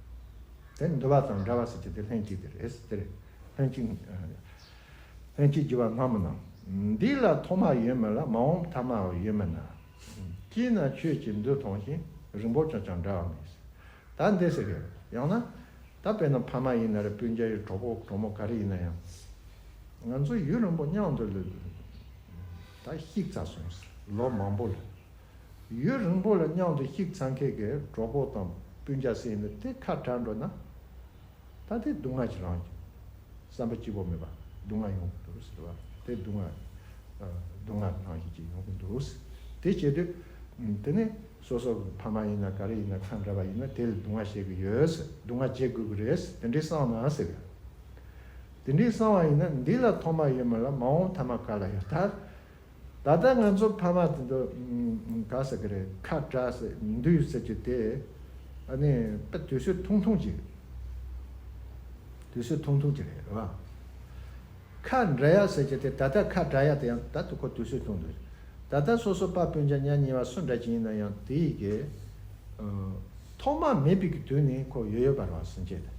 དེ་ནི་འདུལ་བ་དང་འདྲ་བ་ཟེར་གྱི་དེ་ལྷན་ཅིག་དེ་རེད། དེ་རེད། ལྷན་ཅིག། ལྷན་ཅིག་འགྱུར་བ་སྔ་མོ་ནང། འདི་ལ་ཐོག་མ་ཡོད་མེད་ལ་མ་འོངས་པ་ཐ་མ་ཡོད་མེད་ན། སྐྱིད་ན་ཆོས་ཀྱི་འདུལ་ཐོང་ཞིང་རིང་པོ་ཆོག་ཀྱང་འདྲ་བ་མེད། ད་འདི་ཟེར་གི། ཡང་ན། ད་དཔེར་ན་ཕ་མ་ཡིན་ན་རེ་སྤུན་རྒྱ་ཡི་གྲོགས་པོ་གྲོགས་མོ་ག་རེ་ཡིན་ན་ཡང། ང་ཚོ་ཡུན་རིང་པོ་མཉམ་དུ་ལོས། ད་གཤིག་ཚ་སོང། ལོ་མང་པོ་ལོས། ཡུན་རིང་པོ་ལ་མཉམ་དུ་གཤེགས་ཚང་ཁྱེད་ཀྱི་གྲོགས་པོ་དང་སྤུན་ཆ་སེ་ཡིན་ན་དེ་ཁ་གྲགས་འགྲོ་ན། ད་དེ་སྡུག་བསྔལ་གྱི་རང་བཞིན། བསམ་པ་སྐྱིད་པོ་མེད་པ་སྡུག་བསྔལ་ཡོང་གི་འདུག་ཟེར་བ་དེ་སྡུག་བསྔལ། སྡུག་བསྔལ་རང་བཞིན་ཅིག་ཡོང་གི་འདུག་དེ་བྱེད་དུས། དེ་ནི་སོ་སོ་གི་ཕ་མ་ཡིན་ན་ག་རེ་ཡིན་ན་ཁ་འདྲ་བ་ཡིན་ན་དེ་ལ་སྡུག་བསྔལ་བྱེད་ཀྱི་ཡོད་ཟེར་སྡུག་བསྔལ་བྱེད་དགོས་ཀྱི་རེད་ཟེར་དེ་འདྲའི་གསང་ན་ཟེར་བ། དེ་འདྲའི་གསང་བ་ཡིན་ན་འདི་ལ་ཐོག་མ་ཡོད་མ་ལ་མ་འོངས་ཐ་མ་ག་ལ་ཡོད་ད། ད་ལྟ་ང་ཚོ་ཕ་མ་དེ་ཚོ་ག་ཟེར་གི་རེད་ཁ་བྲལ་ཟེར་མི་འདུག་ཟེར་གྱི་དེ་ཨ་ནི་དཔེ་དུས་ཚོད་ཐུང་ཐུང་གྱི་དུས་ཚོད་ཐུང་ཐུང་གྱི་རེད་རེད་བ། ཁ་འབྲལ་ཡ་ཟེར་གྱི་དེ་ད་ལྟ་ཁ་བྲལ་ཡ་དེ་ཡང་ད་དུ་ཁོ་དུས་ཚོད་ཐུང་འདུག་ད་ལྟ་སོ་སོ་པ་སྤུན་ཆ་ཉག་གཉིས་བ་སུ་འདྲ་གྱི་ཡིན་ན་ཡང་དེ་ཡི་གེ་ཐོག་མ་མེད་པི་གི་དུས་ནི་ཁོ་ཡོད་ཡོད་པ་རང་སེམས་སྐྱེད་དེ་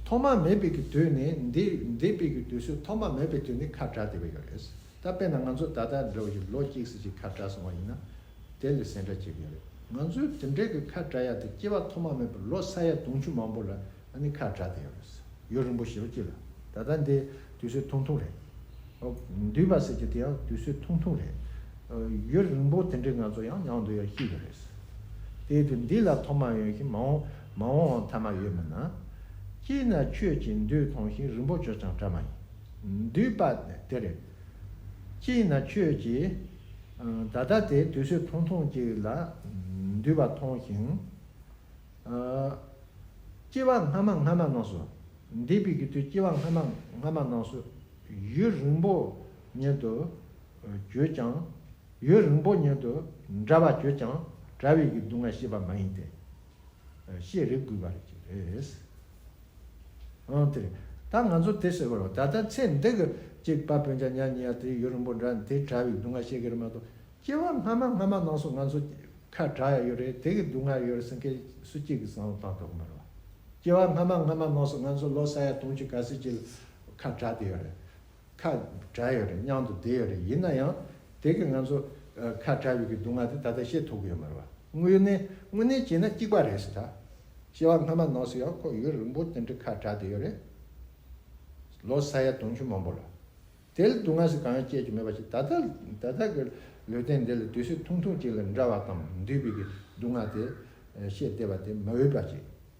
ཐོག་མ་མེད་པི་གི་དུས་ནི་འདི་འདི་པི་གི་དུས་ཚོད་ཐོག་མ་མེད་པི་དུས་ནི་ཁ་བྲལ་དེ་བས་ཡོད་རེད། ད་དཔེར་ན་ང་ཚོ་ད་ལྟ་འདྲ་བ་ཞིག་ལོ་གཅིག་ཟིན་གཅིག་ཁ་བྲལ་སོང་བ་ཡིན་ན། དེ་ལས་ཟད་འདྲ་བྱེད་མཁན་རེད། ང་ཚོས་དེ་འདྲའི་གི་ཁ་བྲལ་ཡ་དེ་སྐྱེ་བ་ཐོག་མ་མེད་པར་ལོ་ས་ཡ་དུང་ཕྱུར་མང་པོ་ལ་ཨ་ནི་ཁ་བྲལ་བསྡད་ཡོད་རེད། ཡོད་རིང་པོ་ཞེས་པ་ཅི་ལ། ད་ལྟ་འདི་དུས་ཚོད་ཐུང་ཐུང་རེད། འདུས་པ་ཟེར་གྱི་དེ་ཡང་དུས་ཚོད་ཐུང་ཐུང་རེད། ཡོད་རིང་པོ་དེ་འདྲའི་ང་ཚོ་ཡང་ཡང་འདུག་ཡ་ཤི་ཡོད་རེད། དེའི་དུས་འདི་ལ་ཐོག་མ་ཡོད་ཤིང་མ་འོང་མ་འོང་འོང་ཐ་མ་ཡོད་མིན་ན། སྐྱིད་ན་ཆོས་ཀྱིས་འདུས་ཐོང་ཤིང་རིང་པོ་བྱོས་ཀྱང་བྲ་མ་ཡིན། འདུས་པ་དེར། ཅིས་ན་ཁྱོད་ཀྱིས་ད་ལྟ་དེ་དུས་ཚོད་ཐུང་ཐུང་ཅིག་ལ་འདུས་པ་མཐོང་ཞིང། སྐྱེ་བ་སྔ་མ་སྔ་མ་རྣམས་སུ། འདས་པའི་དུས་སྐྱེ་བ་སྔ་མ་སྔ་མ་རྣམས་སུ་ཡུན་རིང་པོ་ཉིད་དུ་གྱུར་ཀྱང། ཡུན་རིང་པོ་ཉིད་དུ་འདྲ་བར་གྱུར་ཀྱང་དྲ་བའི་གདུང་བ་ཤེས་པ་མ་ཡིན་ཏེ། ཞེས་རེ་བསྐུལ་བ་རེ་བྱས། འོང་དེ། ད་ང་ཚོ་དེ་ཟེར་བ་རོ་ད་ལྟ་ཚེ་འདི་གི་གཅིག་པ་བོན་བྱ་ཉག་ཉིག་ཡ་དེ་ཡུ་རིང་པོ་འདྲ་དེ་གྲྭ་བའི་སྡུག་བསྔལ་ཤེས་ཀྱི་རེད་མ་གཏོགས་སྐྱེ་བ་སྔ་མ་སྔ་མ་ནང་སོ་ང་ཚོ་ཁ་གྲགས་ཡ་ཡོད་རེད་དེ་གི་སྡུག་བསྔལ་ཡོད་རེད་ཟེར་མཁན་སུ་གཅིག་གི་བཟང་བོ་བཏང་ཐོག་གི་མ་རེད་བ། སྐྱེ་བ་སྔ་མ་སྔ་མ་ནང་སོ་ང་ཚོ་ལོ་ས་ཡ་དུང་ཕྱི་ག་སེར་གྱི་ཁ་གྲགས་དེ་ཡོད་རེད། ཁ་གྲགས་ཡོད་རེད་སྙམ་དུ་བསྡད་ཡོད་རེད་ཡིན་ན་ཡང་དེ་གིས་ང་ཚོ་ཁ་གྲགས་ཡོད་ཀྱི་སྡུག་བསྔལ་དེ་ད་ལྟ་ཤེས་ཐུབ་ཀྱི་ཡོད་མ་རེད་པ། དངོས་གནས་དངོས་གནས་བྱས་ན་གཅིག་པ་རེད་ད། ཤེས་བ་སྔ་མ་ནོར་སྲིད་ཡང་ཁོ་ཡུན་རིང་པོར་དེ་འདྲའི་ཁ་གྲགས་བསྡད་ཡོད་རེད། ལོ་ས་ཡ་དུང་ཕྱུར་མང་པོ་ལ། དེ་ལ་སྡུག་བསྔལ་ཞིག་གང་ཡང་སྐྱེས་ཀྱི་མེད་པ་ཞིག་ད་ད་ལྟ་གི་ལུས་རྟེན་འདི་ལ་དུས་ཚོད་ཐུང་ཐུང་ཅིག་ལ་འདྲ་བ་དང་འདུས་པའི་སྡུག་བསྔལ་དེ་ཤེས་བསྡད་པ་དེ་མ་འོས་པ་ཞིག།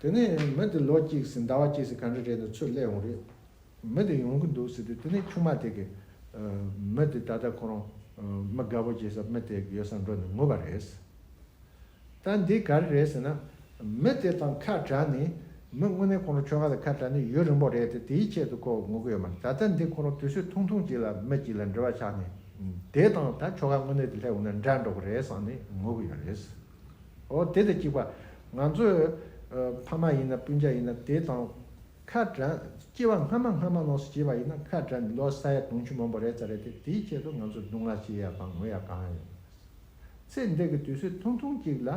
དེ་ནས་མི་དེ་ལོ་གཅིག་ཟིན་ཟླ་བ་གཅིག་ཟིན་ག་འདྲ་རེད་འདུག་ཚུར་སླེབས་འོང་རེད། མི་དེ་ཡོང་གི་འདུག་ཟེར་དུས་དེ་ནས་ཆུང་མ་དེ་གིས། མི་དེ་ད་ལྟ་ཁོ་རང་མི་དགའ་བོ་བྱེད་སར་མི་དེ་ཡོད་སར་འགྲོ་ནས་ངུ་བ་རེད། ད་འདི་ག་རེ་རེད་ཟེར་ན། མི་དེ་དང་ཁ་བྲལ་ནས་མི་དངོས་གནས་ཁོ་རང་ཁྱོ་ག་དང་ཁ་བྲལ་ནས་ཡུན་རིང་པོ་རེད་དེ་དེའི་ཆེད་དུ་ཁོ་ངུ་གི་ཡོད་མ་རེད་ད་ལྟ་འདི་ཁོ་རང་དུས་ཚོད་ཐུང་ཐུང་གཅིག་ལ་མི་གཅིག་ལ་འབྲེལ་བ་ཆགས་ནས་དེ་དང་ད་ཁྱོ་ག་དངོས་གནས་དེ་སླེབས་འོང་ན་འདྲ་འགྲོ་གི་རེད་བསམ་ནས་ངུ་གི་ཡོད་རེད། འོ་དེ་ལས་གཅིག་པ། ང་ཚོས། ཕ་མ་ཡིན་ན་སྤུན་ཆ་ཡིན་ན་དེ་དང། ཁ་བྲལ། སྐྱེ་བ་སྔ་མ་སྔ་མ་ལོགས་སུ་སྐྱེས་པ་ཡིན་ན་ཁ་བྲལ་ནས་ལོ་སར་ཡ་དུང་ཕྱུར་མང་པོ་རེད་ས་རེད་དེ་དེའི་ཆེད་དུ་ང་ཚོ་སྡུག་བསྔལ་བྱེད་ཡ་དང་ངུ་ཡ་གང་ཡིན། ཚེ་འདས་ཀྱི་དུས་ཚོད་ཐུང་ཐུང་གཅིག་ལ།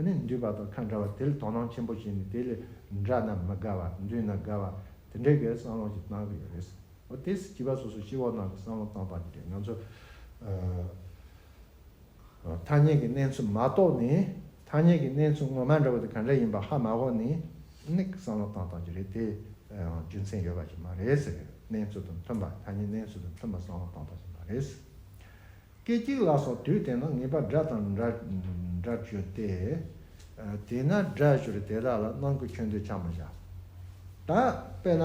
ནི་འདུས་པ་དང་ཁ་འདྲ་བ་དེ་ལས་དོ་སྣང་ཆེན་པོ་བྱས་ནས་དེ་ལས་འདྲ་ན་མི་དགའ་བ་འདུས་ན་དགའ་བ། དེ་འདྲའི་གེ་བསམ་བློ་ཞིག་བཏང་གི་ཡོད་རེད། འོ་དེ་སྐྱིད་པ་སོ་སོ་སྐྱིད་བོ་གནང་གི་བསམ་བློ་བཏང་བ་དེ་འདྲས་ང་ཚོ། ཐ་སྙད་ཀྱི་གནས་ཚུལ་མ་རྟོགས་ནས་ཐ་སྙད་ཀྱི་གནས་ཚུལ་ངོ་མ་འདྲ་བ་དེ་ག་འདྲ་ཡིན་པ་ཧ་མ་གོ་ནས་ནི་བསམ་བློ་བཏང་བཏང་གི་རེད་དེ་ཡང་རྒྱུ་མཚན་ཡོད་པ་ཞིག་མ་རེད་ཟེར་གནས་ཚུལ་དང་མཐུན་པ་ཐ་སྙད་གནས་ཚུལ་དང་མཐུན་པ་བསམ་བློ་བཏང་བཏང་ཞིག་མ་རེད་ཟེར། སྐད་གཅིག་ལ་སོགས་དུས་དེ་ན་ངེས་པ་སྒྲ་དང་འདྲ་འདྲ་བརྗོད་དེ། དེས་ན་སྒྲ་བཤུར་དེ་དག་ལ་སྣང་ཁུལ་ཁྱོད་འདོད་ཆགས་མ་བྱ། ད་དཔེར་ན།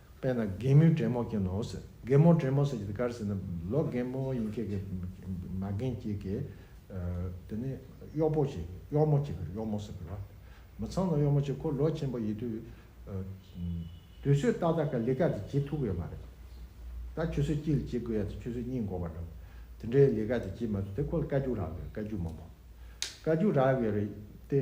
དཔེར་ན་རྒན་མོའི་བྲན་མོ་ཁྱེད་ནོ་ཟེར། རྒན་མོ་བྲན་མོ་ཟེར་གྱི་གར་ཟེར་ན་ལོ་རྒན་མོ་ཡིན་ཁྱེད་ཀྱི་མ་རྒན་ཁྱེད་ཀྱི། དེ་ནས་གཡོག་པོ་ཁྱེད་ཀྱི་གཡོག་མོ་ཁྱེད་ཀྱི་གཡོག་མོ་ཟེར་གི་རོ། མི་ཚང་ན་གཡོག་མོ་ཁྱེད་ཁོ་ལོ་ཆེན་པོ་ཡིན་དུས། དུས་ཚོད་ཏག་ཏག་གི་ལས་ཀ་དེ་བྱེད་ཐུབ་ཡོད་མ་རེད། ད་ཁྱོད་ཚོས་གཅིག་ལ་གཅིག་བསྒོས་ཡ་དེ་ཁྱོད་ཚོས་གཉིས་འགོ་བར་འགྲོ། དེ་འདྲའི་ལས་ཀ་དེ་བྱེད་མ་ཐུབ་དེ་ཁོ་ལ་བཀའ་རྒྱུགས་རག་དགོས་བཀའ་རྒྱུགས་མང་པོ། བཀའ་རྒྱུགས་རག་ཡོད་རེད་དེ།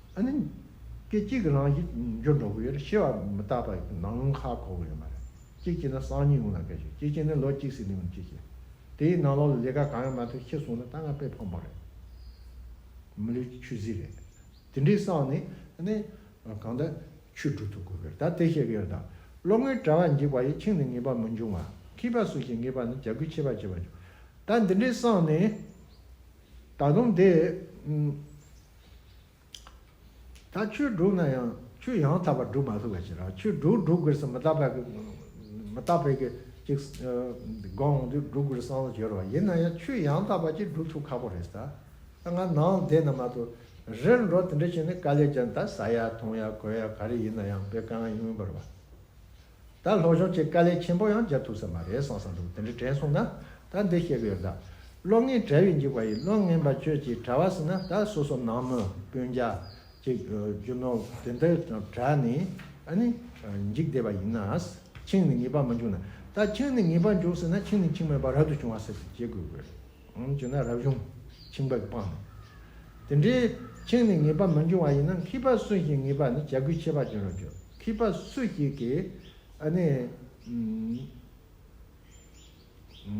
ཨ་ནི། སྐད་ཅིག་གི་རང་བཞིན་འགྱུར་འགྲོ་གི་ཡོད་རེད་ཤེས་པ་མི་རྟག་པ་ཡིན་ན་ནང་ཁ་གོ་གི་ཡོད་མ་རེད། སྐྱིད་ཀྱིས་ན་སང་ཉིན་ཡོང་ལ་སྐད་ཤོད་སྐྱིད་ཀྱིས་ནི་ལོ་གཅིག་ཟིན་ནས་ཡོང་སྐྱིད་ཀྱིས། དེ་ཡིན་ན་ལོག་ལ་ལས་ཀ་གང་ཡང་མ་ཐོན་ཁྱེད་སོང་ན་ད་ང་དཔེ་ཕམ་པོ་རེད། མི་ལུས་ཀྱི་ཆུ་བཟི་རེད། དེ་འདྲའི་སང་ནི་ཨ་ནི། གང་ལྟར་ཆུ་འགྲོ་ཐུབ་དགོས་གི་རེད་ད་དེ་བཤད་གི་ཡོད་ད། བློ་ངན་གྲྭ་བ་འཇིགས་པ་ཡིས་ཁྱིང་ནི་ངེས་པ་མི་འབྱུང་བ། ཁྱིས་པ་སུ་ཞིག་ངེས་པ་ནི་བྱ་འགུལ་ཆེ་བ་བྱེད་པ་འབྱུང། ད་འདི་འདྲའི་སང་ནི། ད་དུང་དེ། ད་ཆོས་སྒྲུག་ན་ཡང་ཆོས་ཡང་དག་པར་སྒྲུག་མ་ཐུབ་པ་ཞིག་རང་ཆོས་སྒྲུག་སྒྲུག་དགོས་སམ་མི་རྟག་པའི་མི་རྟག་པའི་གི་ཅིག་དགོངས་འོང་དུས་སྒྲུག་དགོས་སམ་བྱེད་རོགས་ཡིན་ན་ཡང་ཆོས་ཡང་དག་པ་ཅིག་སྒྲུག་ཐུབ་ཁག་པོ་རེད་ད་ད་ང་ནང་བསྡད་ན་མ་གཏོགས་རེད་འགྲོ་དེ་འདྲ་བྱས་ནས་དཀའ་ལས་བརྒྱབ་ན་ད་ཟ་ཡག་འཐུང་ཡག་གོས་ཡག་ག་རེ་ཡིན་ན་ཡང་དཔེ་གང་ཡིན་མིན་པར་བ། ད་ལྷོ་ཕྱོགས་ཀྱི་དཀའ་ལས་ཆེན་པོ་ཡང་འཇལ་ཐུབ་ས་མ་རེད་གསུངས་ས་འདུག་དེ་འདྲ་དྲན་སོང་ན་ད་འདི་བཤད་གི་ཡོད་ད། བློ་ངན་བྲལ་བའི་འཇིགས་པ་ཡིས་བློ་ངན་པ་ཁྱོད་ཀྱིས་བྲལ་བ་ཟིན་ན་ད་སོ་སོ་ནང་མོ་དཔོན་རྒྱ་ཅིག་རྒྱུ་ནོར་དེ་འདི་བྲལ་ནས་ཨ་ནི་འཇིགས་བསྡད་པ་ཡིན་ན། ཁྱིང་ནི་ངེས་པར་མ་འཇུག་ན། ད་ཁྱིང་ནི་ངེས་པར་འཇུག་ཟིན་ན་ཁྱིང་ནི་འཆིང་མེད་པར་རབ་ཏུ་བྱུང་བ་ཟེར་ཏེ་བརྗེད་དགོས་གི་རེད། བྱུང་ན་རབ་བྱུང་འཆིང་བས་སྤངས། དེ་འདྲའི་འཆིང་ནི་ངེས་པ་མི་འབྱུང་བ་ཡིན་ན་མཁས་པ་སུ་ཞིག་ངེས་པ་ནི་བྱ་རྒོད་ཆད་པ་བྱུང་རབ་གྱུར་མཁས་པ་སུ་ཞིག་གིས་ཨ་ནི།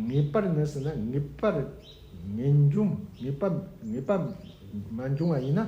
ངེས་པར་ནི་ཟེར་ན་ངེས་པར་མི་འབྱུང་ངེས་པ་མི་འབྱུང་བ་ཡིན་ན།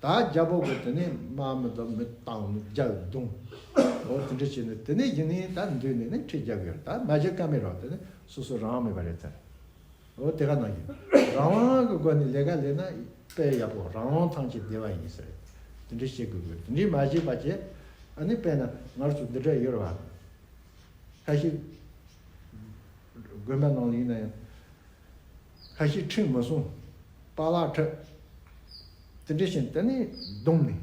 ད་རྒྱ་བོད་གོ་དེ་ནས་མ་མི་ད་མི་བཏང་ནི་རྒྱ་བོད་བརྡུང། ཨོ་དེ་འདྲ་བྱས་ནས་དེ་ནས་ཡིན་ནི་ད་འདུས་ནས་ནི་ཁྲི་རྒྱབ་ཡོད་ད་མ་བྱེད་ཀ་མེད་རོགས་དེ་ནི་སོ་སོ་རང་མེད་པ་རེད་ཚར། ཨོ་དེ་ག་ནང་གི་རང་དབང་གི་སྒོ་ནས་ལས་ཀ་ལས་ན་དཔལ་ཡག་པོ་རང་དབང་ཐང་ཆད་བདེ་བ་ཡིན་ས་རེད་དེ་འདྲ་བྱེད་དགོས་དགོས་དེ་འདྲས་མ་བྱེད་པ་ཆད་ཨ་ནི་དཔལ་ན་ངར་ཚོ་འདི་འདྲ་ཡོད་རེད་བ། ཁ་ཤི། དགོན་པ་ནང་ལ་ཡིན་ན་ཡང། ལྷ་ཞིག་ཁྲིམས་མི་སྲུང་རྟ་ལག་ཁྲོད། དེ་འདྲ་བཞིན་དེ་ནི་གདུང་ནི་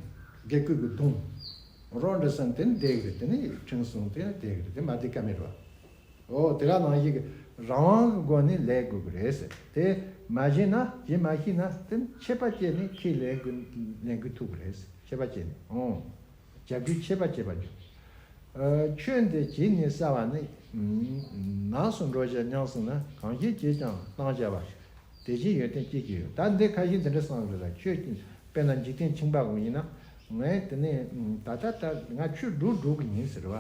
དགེ་སྐོས་ཀྱི་གདུང། རོ་འདྲ་སེམས་དེ་ནི་བདེ་གི་རེད་དེ་ནི་ཁྲིམས་སྲུང་དེ་ནི་བདེ་གི་རེད་དེ་མ་བདེ་ཀ་མེད་རེད་བ། འོ་དེ་ག་ནང་བཞིན་གྱི་རང་དབང་གི་སྒོ་ནས་ལས་དགོས་ཀྱི་རེད་ཟེར་དེ། མ་བཞེས་ན་བཞེས་མ་ཤེས་ན་དེ་ནི་ཆད་པ་བཅད་ནས་ཁས་ལེན་གྱི་ལེན་གྱི་ཐུབ་ཀྱི་རེད་ཟེར་ཆད་པ་བཅད་ནས་ཨོ། བྱ་རྒྱུའི་ཆད་པ་བྱེད་པར་འགྱུར། ཁྱོད་འདི་གྱིས་ནི་བསལ་བ་ནི། ནགས་སུ་འགྲོ་བྱེད་གཉང་སྲིང་ན་གང་སྐྱེས་ཀྱིས་ཀྱང་བཏང་བྱ་བ། དེ་བཞིན་ཡོན་ཏན་སྐྱེས་ཀྱི་ཡོད་ད་འདི་ཁ་ཞིག་འདི་འདྲ་སངས་རྒྱས་ལ་ཁྱོད་ཀྱིས་དཔེར་ན་འཇིག་རྟེན་འཆིང་བག་མ་ཡིན་ནམ། ངས་དེ་ནས་ད་ལྟ་ལྟར་ང་ཁྱོད་སྒྲུག་སྒྲུག་གི་ཡིན་ཟེར་བ།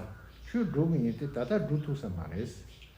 ཁྱོད་སྒྲུག་གི་ཡིན་ཏེ་ད་ལྟར་སྒྲུག་ཐུག་ས་མ་རེད།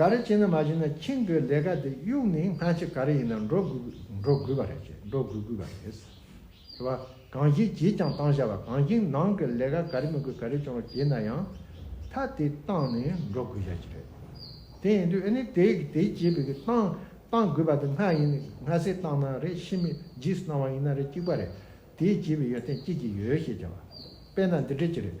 ག་རེ་བྱས་ན་མ་བྱས་ན་ཁྱེད་ཀྱི་ལས་ཀ་དེ་གཡུག་ནས་སྔ་ཕྱི་ག་རེ་ཡིན་ན་འགྲོ་དགོས་པ་རེད་ཅེས་འགྲོ་དགོས་དགོས་པ་རེད། དེ་བ་གང་ཞིག་བྱས་ཀྱང་བཏང་བྱ་བ་གང་ཞིག་ནང་གི་ལས་ཀ་ག་རེ་མི་དགོས་ག་རེ་ཀྱང་བྱས་ན་ཡང་ཐ་དེ་བཏང་ནས་འགྲོ་དགོས་བྱ་ཅི་རེད། དེ་ཡིན་དུས་ཨེ་ནི་དེ་དེ་བྱས་པའི་བཏང་བཏང་དགོས་པ་དེ་སྔ་ཡིན་ནས་སྔ་སེ་བཏང་ན་རེད་ཕྱི་མི་རྗེས་སུ་གནང་བ་ཡིན་ན་རེད་གཅིག་པ་རེད་དེ་བྱས་པའི་ཡོན་ཏན་ཅི་ཅི་ཡོད་ཤེས་བྱ་བ་དཔེ་ན་འདི་འདྲས་ཅི་རེད།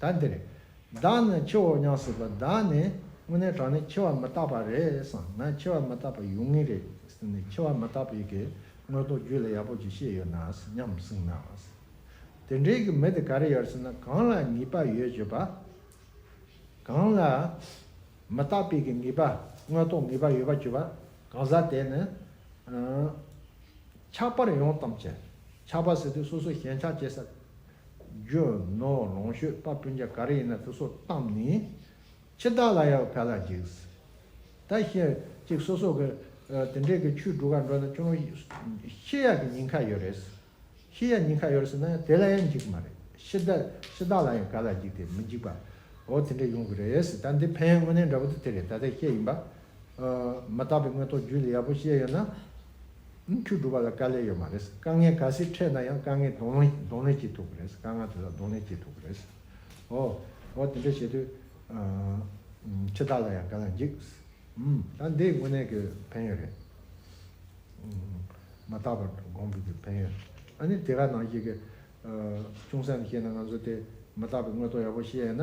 ད་འདིར། བདག་ནི་འཆི་འོག་ཉམས་སྲིད་པ་བདག་ནི་དངོས་གནས་དྲང་ནས་འཆི་བ་མི་རྟག་པ་རེད་བསམ་ན་འཆི་བ་མི་རྟག་པ་ཡོང་ངེས་རེད་ཟེར་ནས་འཆི་བ་མི་རྟག་པའི་གི་དངོས་རྟོགས་རྒྱུད་ལ་ཡག་པོ་ཅིག་ཤེས་ཡོད་ན་སྙམ་གསུངས་ན། དེ་འདྲའི་གི་མི་དེ་ག་རེ་ཡོད་ཟེར་ན་གང་ལ་ངེས་པ་ཡོད་བྱས་པ། གང་ལ་མི་རྟག་པའི་གི་ངེས་པ་དངོས་རྟོགས་ངེས་པ་ཡོད་པ་བྱས་པ་གང་ཟག་དེ་ནི། ཆགས་པར་ཡོང་གཏམ་བྱས། ཆགས་པ་ཟེར་དུས་སོ་སོ་ཞེན་ཆགས་བྱེད་ས། རྒྱུ་ནོར་ལོངས་སྤྱོད་དཔའ་སྤུན་ཆ་ག་རེ་ཡིན་ན་དེ་སོགས་བཏང་ནས་ཕྱི་ཟླ་ལ་ཡང་བལ་ལ་འཇིགས། ད་ཤེས་ཅིག་སོ་སོ་གི་དེ་འདྲའི་གི་ཆུའི་གྲུ་ག་འགྲོ་ན་ཅུང་ཤེས་ཡག་གི་ཉིན་ཁ་ཡོད་རེད། ཤེས་ཡག་ཉིན་ཁ་ཡོད་ཟེར་ན་ཡང་དེ་ལ་ཡང་འཇིགས་གི་མ་རེད། ཕྱི་ཟླ་ཕྱི་ཟླ་ལ་ཡང་བལ་ལ་འཇིགས་ཏེ་མི་འཇིགས་པ་འོ་དེ་འདྲ་ཡོང་གི་རེད། ད་འདི་ཕན་ངོ་ནས་འདྲ་པོ་དེ་དེ་རེད་ད་ལྟའི་ཤེས་ཡིན་པ་མ་བརྟགས་པའི་དངོས་ཐོག་རྒྱུད་ལ་ཡག་པོ་བཤད་ཡོད་ན། ཁྱོད་སྒྲུབ་པ་ལ་དཀའ་ལས་ཡོད་མ་རེད། དཀའ་ངལ་ག་སེ་འཕྲད་ན་ཡང་དཀའ་ངལ་གདོང་ལེན་གདོང་ལེན་བྱེད་ཐུབ་པ་རེད། དཀའ་ངལ་དེ་དག་གདོང་ལེན་བྱེད་ཐུབ་པ་རེད། ཨོ། ཨོ་དེ་འདྲ་བྱེད་དུས། ཁྱེད་དག་ལ་ཡང་ག་ལ་འཇིགས། ད་འདི་དངོས་གནས་ཀྱི་ཕན་ཡོད་རེད། མ་བརྟགས་པར་དགོངས་འདུག་གི་ཕན་ཡོད། ཨ་ནི་དེ་ག་ནང་བཤད་ཀྱི། ཅུང་ཟད་ནས་བཤད་ན་ང་ཚོ་དེ་མ་བརྟགས་པའི་དངོས་ཐོག་ཡག་པོ་བཤད་ཡོད་ན།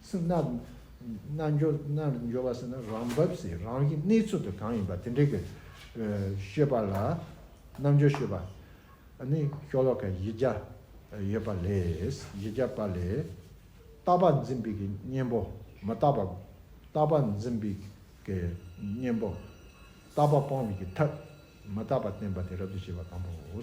སེམས་རྣལ་འབྱོར་རྣལ་འབྱོར་བ་ཟེར་ན་རང་བབས་སེ་རང་གི་གནས་ཚུལ་དུ་གང་ཡིན་པ་དེ་འདྲའི་གི་ཤོད་པ་ལ་རྣལ་འབྱོར་ཤོད་པ་ནི་ཤོ་ལོ་ཀ་བཞི་བརྒྱ་ཡོད་པ་ལས་བཞི་བརྒྱ་པ་ལས་རྟག་པར་འཛིན་པའི་གི་གཉེན་པོ་མི་རྟག་པ་རྟག་པར་འཛིན་པའི་གི་གཉེན་པོ་རྟག་པ་སྤོང་བའི་གི་ཐབས་མི་རྟག་པ་བསྟན་པ་དེ་རབ་ཏུ་ཕྱེ་བ་དང་པོའོ།